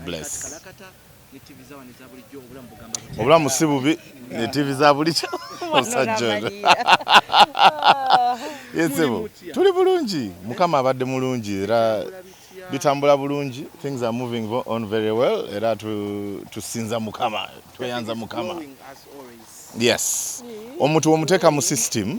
Bless. obulamu si bubi ne tv za bulikyo omusajja ono yesebo tuli bulungi mukama abadde mulungi era bitambula bulungi things are moving on very well era tusinza mukama tweyanza mukama yes omuntu womuteeka mu system mm.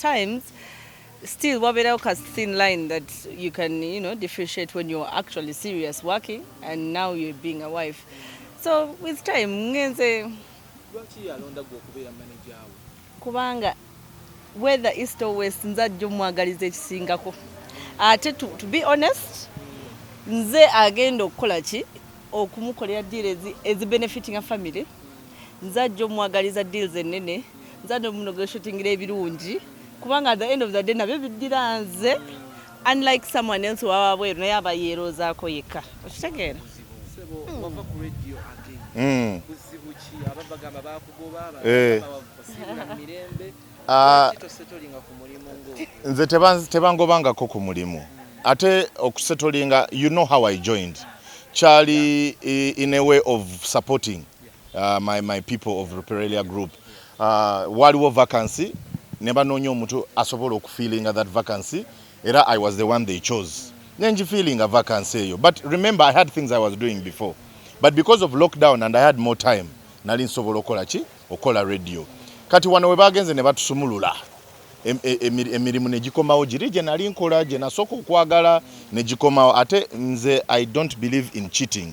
times still wabeerawo ka thin line that you can you know differentiate when you're actually serious working and now you're being a wife so with time ngenze kubanga whether east or west nze ajja omwagaliza ekisingako ate to, to be honest nze agenda okukola ki okumukolera deal ezi benefitinga family nze ajja omwagaliza deals ennene nze ajja omunegotiatingira ebirungi kubanga at the end of the day nabyo biddira nze unlike someone else wawa bweru naye aba yeeroozaako yekka okitegeera hmm. eh. ah. nze tebangobangako ku mulimu ate okusetolinga you know how i joined kyali eh, in a way of supporting Uh, my, my people of Ruperelia group uh, waliwo vacancy ne banoonya omuntu asobola okufeelinga that vacancy era i was the one they chose nenjifeelinga vacancy eyo but remember i had things i was doing before but because of lockdown and i had more time nali nsobola okola ki okola radio kati wano webagenze ne batusumulula emirimu negikomawo giri gye nali nkola gye nasooka okwagala negikomawo ate nze i don't believe in cheating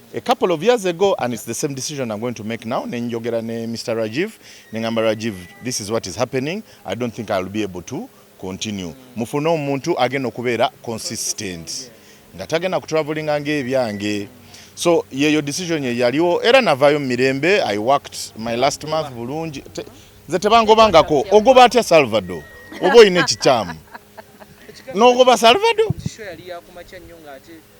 a couple of years ago and it's the same decision I'm going to make now nenjogera ne Mr Rajiv nengamba Rajiv this is what is happening I don't think I'll be able to continue mufune omuntu agenda okubeera consistent nga tagenda kutravelinga ngaebyange so yeyo decision ye yaliwo era navayo mumirembe I worked my last month bulungi nze tebangobangako ogoba atya Salvador oba olina ekikyamu nogoba Salvador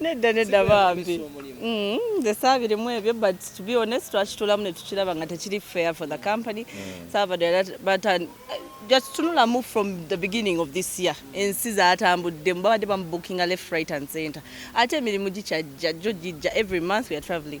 nedda nedda bambi mm, nze saabirimu ebyo but to be honest twakitulamu netukiraba nga tekiri fair for the company mm. saabadde but uh, jakitunulamu from the beginning of this year ensi zatambuddemu babadde bamubukinga left right and center ate emirimu gikyajja jo gijja every month we are traveling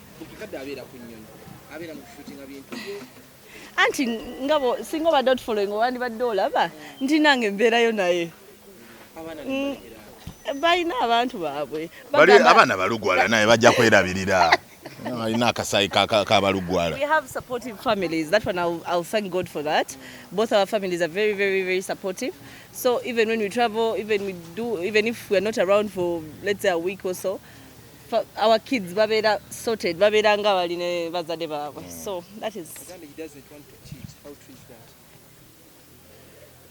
anti ngabo singa obadde otufollowing owandibadde olaba nti nange mbeerayo naye mm, balina abantu baabwe abaana balugwala naye bajja kwerabirira alina akasayi kabalugwala we have supportive families that one I'll, I'll thank God for that both our families are very very very supportive so even when we travel even we do even if we are not around for let's say a week or so our kids babeera sorted babeera nga bali ne bazadde baabwe mm. so that is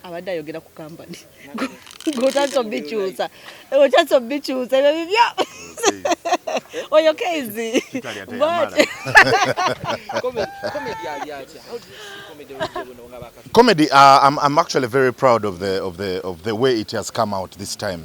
abadde ayogera ku kampani ngotandisa obikyusa otandisa obikyusa ebyo bibyo oyo kezi comedy uh, I'm, I'm actually very proud of the, of the, of the way it has come out this time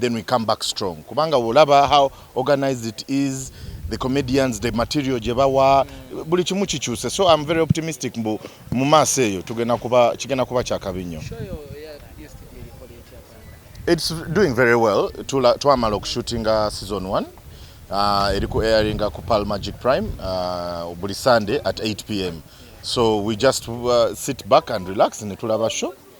then we come back strong kubanga wolaba how organized it is the comedians the material gye bawa buli kimu kikyuse so im very optimistic mbu mu maaso eyo tugenda kuba kigenda kuba kyakabi nnyo its doing very well twamala okushootinga season 1 uh, eri ku airinga ku pal magic prime uh, buli sunday at 8 pm so we just uh, sit back and relax netulaba show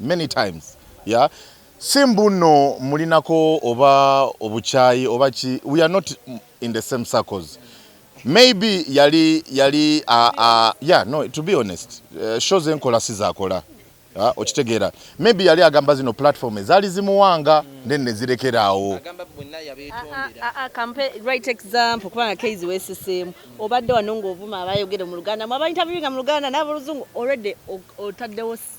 many times yeah si mbuno mulinako oba obukyayi oba ki we are not in the same circles maybe yali yali uh, uh, yeah no to be honest uh, shows enkola sizakola uh, okitegeera maybe yali agamba zino platform ezaali zimuwanga mm. then nezirekeraawo kubanga keizi wesiseemu obadde wano ngaovuma abayogere mu luganda mu abaintaviewinga mu luganda n'aboluzungu already otaddewo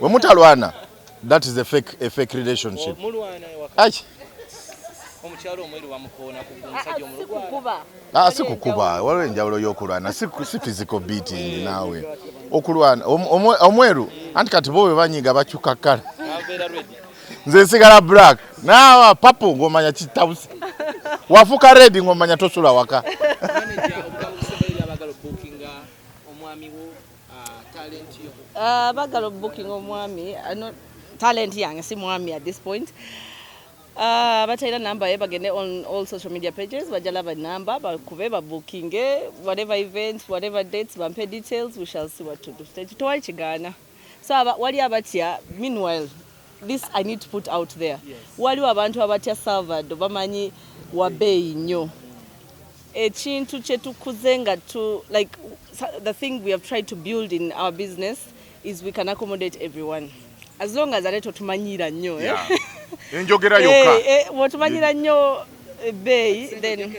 we mutalwana that is a fake, a fake relationship ai ah, si kukuba waliwo enjawulo y'okulwana si physical beating naawe okulwana omweru anti kati bo webanyiga bakyuka kala nze nsigala black naawa papu ng'omanya kitabusi wafuka redi ng'omanya tosula waka Uh, bagala obubukinga omwami uh, talent yange si mwami at this point uh, batalina namba ye bagende on all social media pages bajalaba namba bakube babukinge whatever events whatever dates bampe details we shall see what to do tekitwali kigaana so wali abatya meanwhile this i need to put out there waliwo abantu abatya salvado bamanyi wabeeyi nnyo ekintu kyetukuze nga tu like the thing we have tried to build in our business is we can accommodate everyone as long as ate totumanyira nnyo eh? enjogera eh, yokka eh, wotumanyira nnyo ebbeeyi then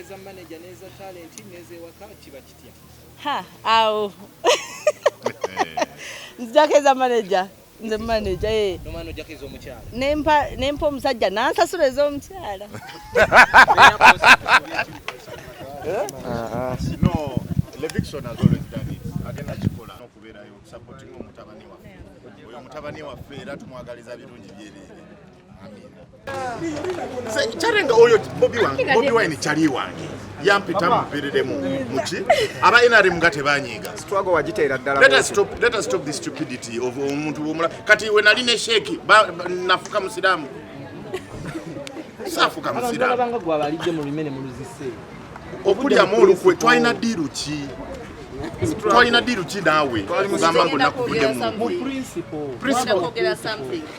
ha awo nzijako eza manager nze maneja ye eh. nomwana ojjako ez'omukyala nempa nempa omusajja nansasula ez'omukyala no leviction has always done it agenda kikola n'okubeerayo supporting omutabani waffe oyo omutabani waffe era tumwagaliza birungi byereere kyarenga oyo bobi wine kyali wange yampita muviriremu muki aba nrm nga tebanyiiga omuntu womula kati we nali ne sheeki nafuka musiraamu saafuka musiraamu okulyamu olukwe twalina diiru ki twalina diiru ki naawe gamba ngaonakuvuddemu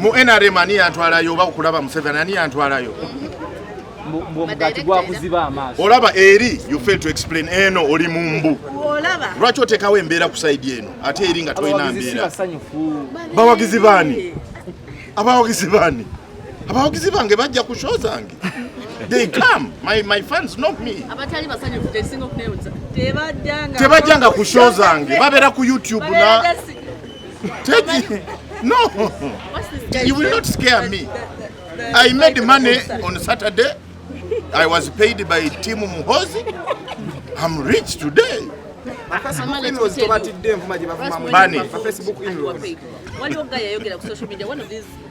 mu nrm ani yantwalayo oba okulaba museveni ani yantwalayo olaba eri you fail to explain eno oli mumbu lwaki otekawo embeera ku saidi eno ate eri nga tolina mbeera bawagizi baani abawagizi baani abawagizi bange bajja ku show zange they come my, my fans not me abatali basanyufu tesinga okunewuza tebajjanga tebajjanga ku show zange babeera ku youtube na Teddy, no, you will not scare me. I made money on Saturday. I was paid by Team Muhozi. I'm rich today. Money.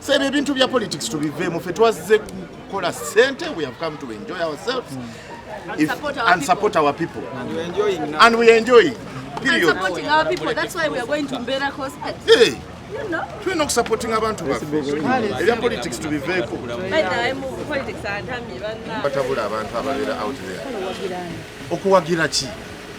So ebyo ebintu bya politics tubiveemu ffe twazze kukola sente we have come to enjoy ourselves mm. and, if, support, our and support our people and we enjoy now. and we enjoy period and supporting our people that's why we are going to Mbera concert hey. tulina okusapotinga abantu ebya politics tubiveeko batabula abantu ababeera out there okuwagira ki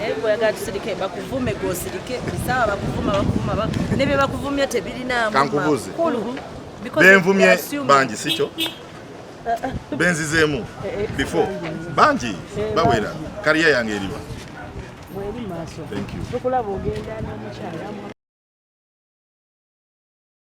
naye bweyagala tusirike bakuvume gwosirike esawa bakuvuma bakuvuma ne bye bakuvumye tebirinaamu kankubuuze benvumye bangi sikyo benzizeemu before bangi bawera kariya yange eriwa Thank you.